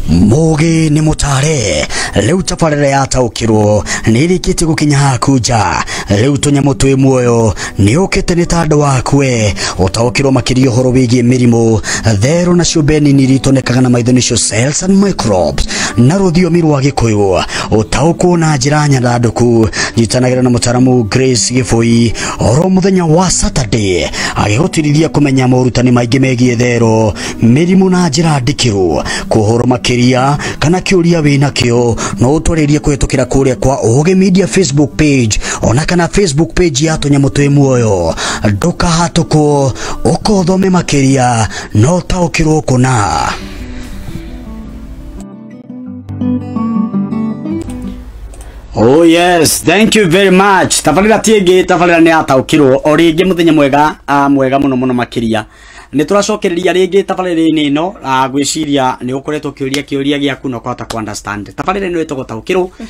mugi ni mutare riu tabarira yataukirwo ni irikitie gukinya haku nja riu tunyamu twi muoyo ni ukite ni ta andu waku we utaukirwo makiria uhoro wigie mirimu theru na ciumbe nini iria itonekaga na maitho nicio cells and microbes na ruthiomi rwa gikuyu utaukwo na njira nyandanduku njitanagira na mutaramu Grace Giboi oro muthenya wa Saturday agĩgũtirithia kũmenya morutani maingĩ megiĩ therũ mĩrimũ na njĩra ndikĩru kũhoro makĩria kana kĩũria wĩ nakĩo no ũtwarĩrie kũhĩtũkĩra kũrĩa kwa Ũgĩ Media Facebook page ona kana Facebook page ya tũnyamũ twĩ muoyo ndũkahatũkwo ũkothome makĩria no taũkĩrwo kũna Oh yes, thank you very much. Tabarira tienge tabarira ni ataukirwo o ringi muthenya mwega a mwega muno muno makiria. Ni turacokereria ringi tabarira ni no a gwiciria ni ukoretwo kiuria kiuria giaku no kota ku understand. Tabarira ni wetagwo taukirwo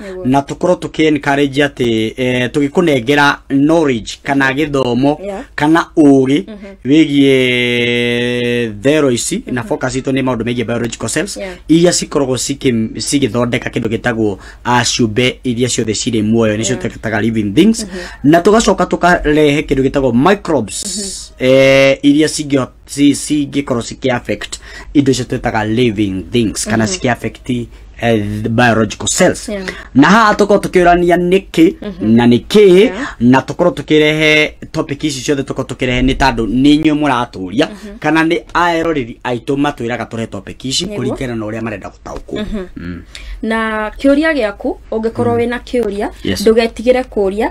Nĩguo. na tũkorwo tũkĩ encourage atĩ eh, tũgĩkũnengera knowledge kana gĩthomo Yeah. kana ũũgĩ wĩgiĩ thero ici na focus itũ nĩ maũndũ megiĩ biological cells Yeah. iria cikoragwo cikĩ- cigĩthondeka kĩndũ gĩtagwo ah, ciũmbe iria ciothe cirĩ muoyo nĩcio tũgetaga living things na tũgacoka tũkarehe kĩndũ gĩtagwo microbes eh, iria cingĩhota si si ke koro si ke affect ido se twetaga living things kana si ke affect eh, the biological cells Yeah. na haha tukorwo tukiurania niki na niki na tukorwo tukirehe topic ici ciothe tukorwo tukirehe ni tandu ni inyuĩ mũraturia kana ni aeroreri aitũ matwĩraga tũrehe topic ici Nĩguo. kũringana na ũrĩa marenda gũtaũkwo Mm. na kĩũria gĩaku ũngĩkorwo wĩna kĩũria Yes. ndũgetigĩre kũria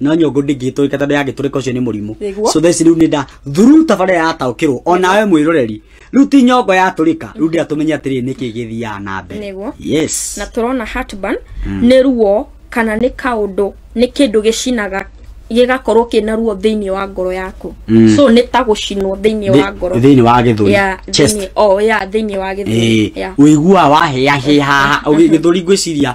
no nyongo ndingĩtũrĩka tondũ yangĩtũrĩka ũcio nĩ mũrimũ Nĩguo. so theci rĩu nĩ nda thuru tabarĩra yataũkĩrwo o nawe mwĩroreri rĩu ti nyongo yatũrĩka rĩu ndĩra tũmenye atĩrĩ nĩkĩ gĩthiaga na mbere Nĩguo. yes na tũrona heartburn nĩ ruo kana nĩ kaũndũ nĩ kĩndũ gĩcinaga gĩgakorwo kĩna ruo thĩinĩ wa ngoro yaku Mm. so nĩ ta gũcinwo thĩinĩ wa ngoro thĩinĩ wa gĩthũri ya chest thĩinĩ oh ya thĩinĩ wa gĩthũri Eh, ya ũiguaga wahĩahĩha gĩthũri ngwĩciria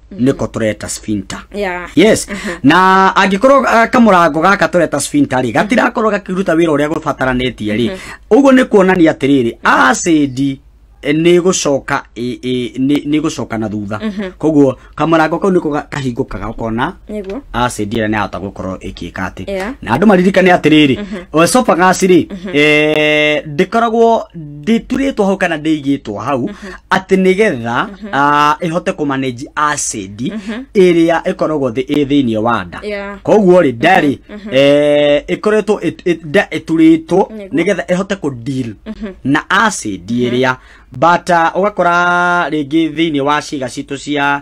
niko tureta sphinter yeah. yes na angĩkorwo uh, kamũrango gaka tũreta sphinter rĩ gatirakorwo gakĩruta wĩra ũrĩa gũbataranĩtie rĩ ũguo nĩ kuonania atĩrĩrĩ acid eh, nĩ gũcoka ĩ- ĩ- nĩ nĩ gũcoka na thutha koguo kamũrango kau nĩko ga- kahingũkaga ũkona nĩguo acid ĩrĩa nĩyahota gũkorwo ĩkĩka atĩ Yeah. na andũ maririkane atĩrĩrĩ esophagus rĩ eh, ndĩkoragwo ndĩturĩtwo hau kana ndĩigĩtwo hau atĩ nĩ getha ah, ĩhote kũmanage acid ĩrĩa ĩkoragwo thĩ ĩ thĩinĩ wa nda Yeah. koguo rĩ nda rĩ eh, ĩkoretwo ĩt- ĩt- nda ĩturĩtwo Nĩguo. nĩ getha ĩhote kũ deal na acid ĩrĩa but ah, ũgakora rĩngĩ thĩinĩ wa ciĩga citũ cia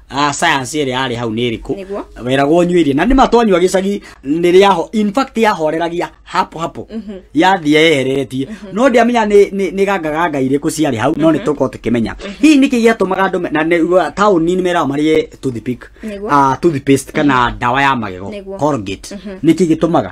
ah, science ĩrĩa yarĩ hau nĩ ĩrĩkũ Nĩguo. weragwo nyue irio na nĩ matwanyua gĩcagi nĩ rĩaho in fact yahoreragia hapo hapo yathiĩ yehereretie no ndiamenya nĩ nĩ- nĩ gangaganga irĩkũ ciarĩ hau no nĩ tũkorwo tũkĩmenya hihi nĩkĩ gĩatũmaga andũ me- na nĩ- taũni nĩ meraga marĩe toothpick Nĩguo. ah, toothpaste kana ndawa ya magego Nĩguo. Colgate nĩkĩ gĩtũmaga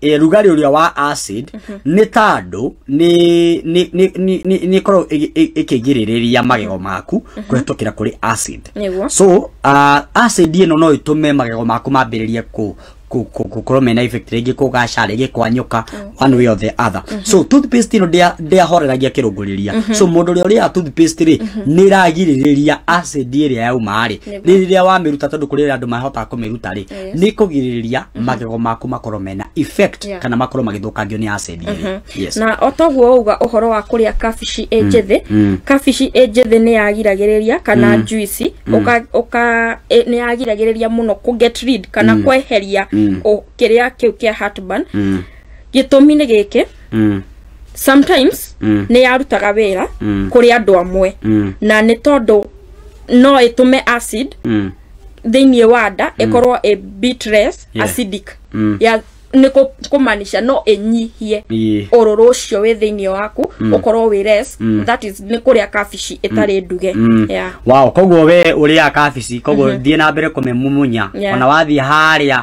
eh, rugarĩ ũrĩa wa acid nĩ ta andũ nĩ- nĩ- nĩ- nĩ- nĩ- nĩ ĩkoragwo ĩgĩ- ĩ- ĩkĩgirĩrĩria magego maku kũhetũkĩra kũrĩ acid Nĩguo. so uh, acid ĩno no ĩtũme magego maku mambĩrĩrie kũ kũ- kũ- gũkorwo mena effect rĩngĩ kũgaca rĩngĩ kwanyũka one way or the other so toothpaste ĩno ndĩa- ndĩahoreragia kĩrũngũrĩria so mũndũ ũrĩa ũrĩaga toothpaste rĩ nĩ ĩragirĩrĩria acid ĩrĩa yauma rĩ Nĩguo. rĩrĩa wamĩruta tondũ kũrĩ andũ mahotaga kũmĩruta rĩ nä kå girä rä ria magego maku makorwo mena effect Yeah. kana makorwo magä thå kangio nä acid ĩrĩ. Yes. na o toguo wauga uhoro wa kuria kabici ĩ njĩthĩ mm. kabici ĩ njĩthĩ nĩ yagiragĩrĩria kana juici ũka ũka ĩ- nĩ yagiragĩrĩria mũno kũ get rid kana kweheria ũ- kĩrĩa kĩu kĩa heartburn Mm, gĩtũmi nĩ gĩkĩ mm, sometimes Mm. nĩ yarutaga wĩra Mm. kũrĩ andũ amwe mm, na nĩ tondũ no ĩtũme acid mm, thĩinĩ wa nda ĩkorwo ĩ bitress Yeah. acidic Mm. ya nĩ kũ- kũmaanisha no ĩnyihie Ĩĩ. ũrũrũ ũcio wĩ thĩinĩ waku ũkorwo wĩ less that is nĩ kũrĩa kabici ĩtarĩ nduge Mm. yeah. wow koguo we ũrĩa kabici koguo thiĩ na mbere kũmĩmumunya Yeah. ona wathiĩ harĩa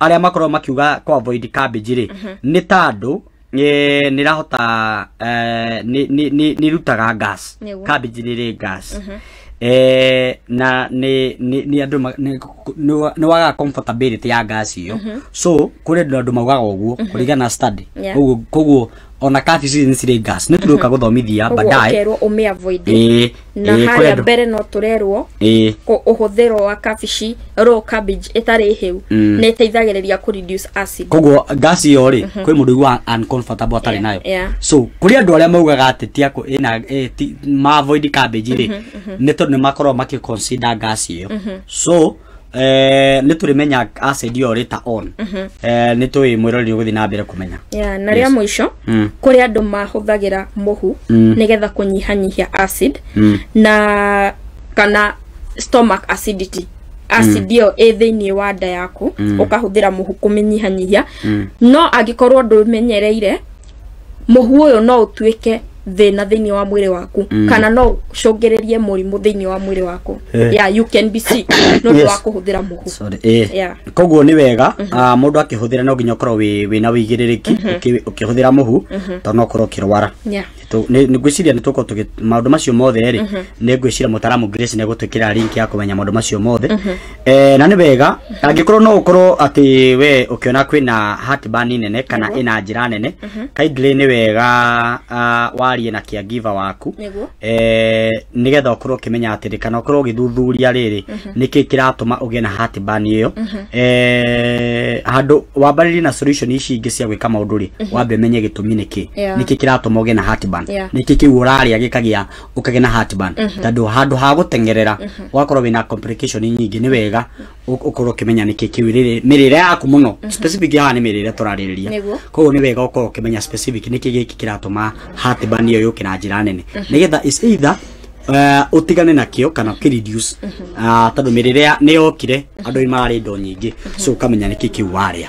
arĩa makorwo makiuga kwa avoid cabbage rĩ nĩ ta andũ eh, nĩrahota eh, nĩ- nĩ- nĩ- nĩrutaga gas Nĩguo. cabbage rĩrĩ gas Eh, na nĩ nĩ- nĩ andũ ma- nĩ- nĩ wa- nĩ waga comfortability ya gas iyo so kũrĩ andũ andũ maugaga ũguo kũringana na study Yeah. Koguo- koguo ona kabici nĩ cirĩ gas nĩ tũrĩũka gũthomithia koguo baadaye ũkerwo ũmĩ avoid ĩĩ na ĩĩ, harĩa kwendwo. mbere no tũrerwo ĩĩ kũ- ũhũthĩro wa kabici raw cabbage ĩtarĩ hĩu Mm. nĩ ĩteithagĩrĩria kũ reduce acid koguo gas iyo rĩ kwĩ mũndũ ũigua uncomfortable atarĩ Yeah, nayo yeah. so kũrĩ andũ arĩa maugaga atĩ ti akũ ĩna ĩ, ti- ma avoid cabbage rĩ nĩ tondũ nĩ makoragwo makĩ consider gas iyo so eh, nä tå rä menya acid ä yo rä ta on eh, nä tå ä mwä rorä gå thiä na mbere kå menya ya na rĩa mũico Mm. kũrĩ andũ mahũthagĩra mũhu Mm. nĩgetha kũnyihanyihia acid Mm. na kana stomach acidity acid ĩyo ĩ thĩinĩ wa nda yaku ũkahũthĩra mũhu kũmĩnyihanyihia no angĩkorwo ndũmenyereire mũhu ũyũ no ũtuĩke thĩna thĩinĩ wa mwĩrĩ waku mm. kana no ũcũngĩrĩrie mũrimũ thĩinĩ wa mwĩrĩ waku eh. yeah, you can be sick no yes. wa kũhũthĩra mũhu Sorry, eh. yeah. koguo nĩ wega mm -hmm. uh, mũndũ akĩhũthĩra no nginya ũkorwo wĩna wĩigĩrĩrĩki mm -hmm. ũkĩhũthĩra mũhu mm -hmm. tondũ no ũkorwo ũkĩrwara yeah ngwĩciria nä tåkorwo tå maå ndå macio mothe rä mhm. nä ngwĩciria må taramu nä egå twä kä ra ya kå menya maå ndå macio mothe mhm. Eh, na nĩ wega angĩkorwo no ũkorwo atĩ we ũkĩona kwĩna heartburn nene kana ĩna njĩra nene kindly nĩ wega ah, warie na caregiver waku Nĩguo. eh, nĩgetha ũkorwo ũkĩmenya atĩrĩ kana ũkorwo ũgĩthuthuria rĩrĩ nĩkĩ kĩratũma ũgĩe na heartburn ĩyo eh, handũ wambarĩrie na solution ici ingĩ cia gwĩka maũndũ rĩ wambe menye gĩtũmi nĩkĩ Yeah. nĩkĩ kĩratũma ũgĩe na heartburn Yeah. nĩkĩ kĩu ũrarĩa gĩkagĩa ũkagĩa na heartburn tondũ handũ ha gũteng'erera ũgakorwo wĩna complication nyingĩ nĩ wega ũ- ũkorwo ũkĩmenya nĩkĩ kĩu rĩrĩ- mĩrĩre yaku mũno specific haha nĩ mĩrĩre tũrarĩrĩria Nĩguo. koguo nĩ wega ũkorwo ũkĩmenya specific nĩkĩ gĩkĩ kĩratũma heartburn ĩyo yũke na njĩra nene nĩgetha is either eh, ũtigane nakĩo kana ũkĩreduce Ah, tondũ mĩrĩre ya- nĩ yokire andũ nĩ mararĩ indo nyingĩ so ũkamenya nĩkĩ kĩu warĩa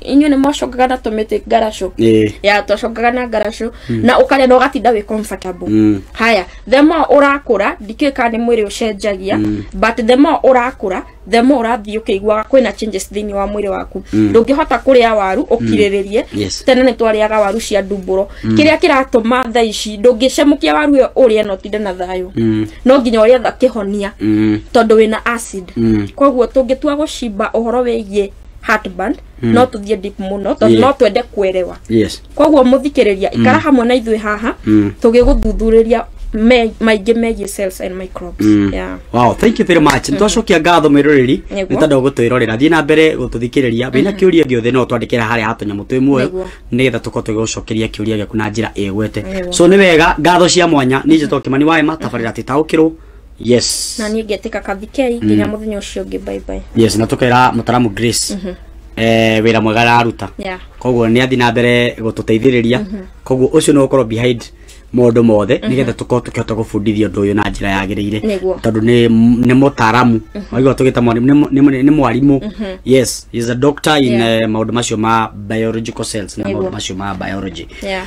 inyuĩ nĩ mwacokaga na tũmĩtĩ ngaracũ Eh. ya twacokaga na ngaracũ na ũkarĩa na ũgatinda wĩ comfortable Mm. haya the more ũrakũra ndikĩũĩ kana nĩ mwĩrĩ ũcenjagia but the more ũrakũra the more ũrathiĩ ũkĩiguaga kwĩna changes thĩinĩ wa mwĩrĩ waku ndũngĩhota kũrĩa waru ũkirĩrĩrie Yes. tene nĩ twarĩaga waru cia ndumbũro kĩrĩa kĩratũma tha ici ndũngĩcemũkia waru ĩyo ũrĩe na ũtinde na thayũ Mm. no nginya ũrĩetha kĩhonia Mm. tondũ wĩna acid Mm. koguo tũngĩtua gũcimba ũhoro wĩgiĩ heartburn no tũthiĩ deep mũno tondũ Yeah. no twende kuerewa yes koguo mũthikĩrĩria ikara hamwe na ithuĩ haha Mm. tũgĩgũthuthuria me- maingĩ megiĩ cells and microbes Mm. yeah. wow thank you very much nitwacokia ngatho mwiroreri Nĩguo. nĩ tondũ gũtwĩrorera thiĩ na mbere gũtũthikĩrĩria wĩna kĩũria gĩothe no twandĩkĩra harĩa hatũnyamũ twĩ muoyo Nĩguo. nĩgetha tũkorwo tũgĩgũcokeria kĩũria gĩaku na njĩra ĩgwete Nĩguo. so nĩ wega ngatho cia mwanya ninjĩ tokimani wa ema tabarĩra tĩtaũkĩrwo yes na niä ngä tä ka kathikei nginya må thenya å cio å ngä baibai yes na tukera mutaramu grace eh wira mwega araruta Yeah. koguo ni athi na mbere gututeithiriria koguo ucio ni gukorwo behind maundu mothe nigetha tukorwo tukihota gubundithia undu uyu na njira yagirire Nĩguo. tondu ni ni mutaramu waigua tugita mwarimu ni mu- ni mu- ni mwarimu yes he is a doctor in Yeah. eh, maundu macio ma biological cells na Nĩguo. maundu macio ma biology Yeah.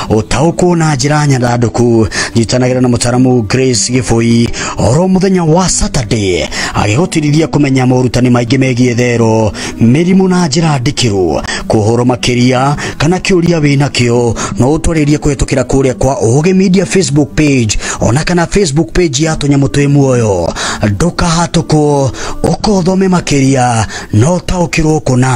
ũtaũkwo na njĩra nyandandũku nyitanagĩra na mũtaramu Grace Gĩbũi oro mũthenya wa Saturday agĩgũtirithia kũmenya morutani maingĩ megiĩ thero mĩrimũ na njĩra ndikĩru kũhoro makĩria kana kĩũria wĩnakĩo no ũtwarĩrie kũhetũkĩra kũrĩa kwa Ũgĩ Media Facebook page ona kana Facebook page ya tũnyamũ twĩ muoyo ndũkahatũkwo ũkothome makĩria no ũtaũkĩrwo kũna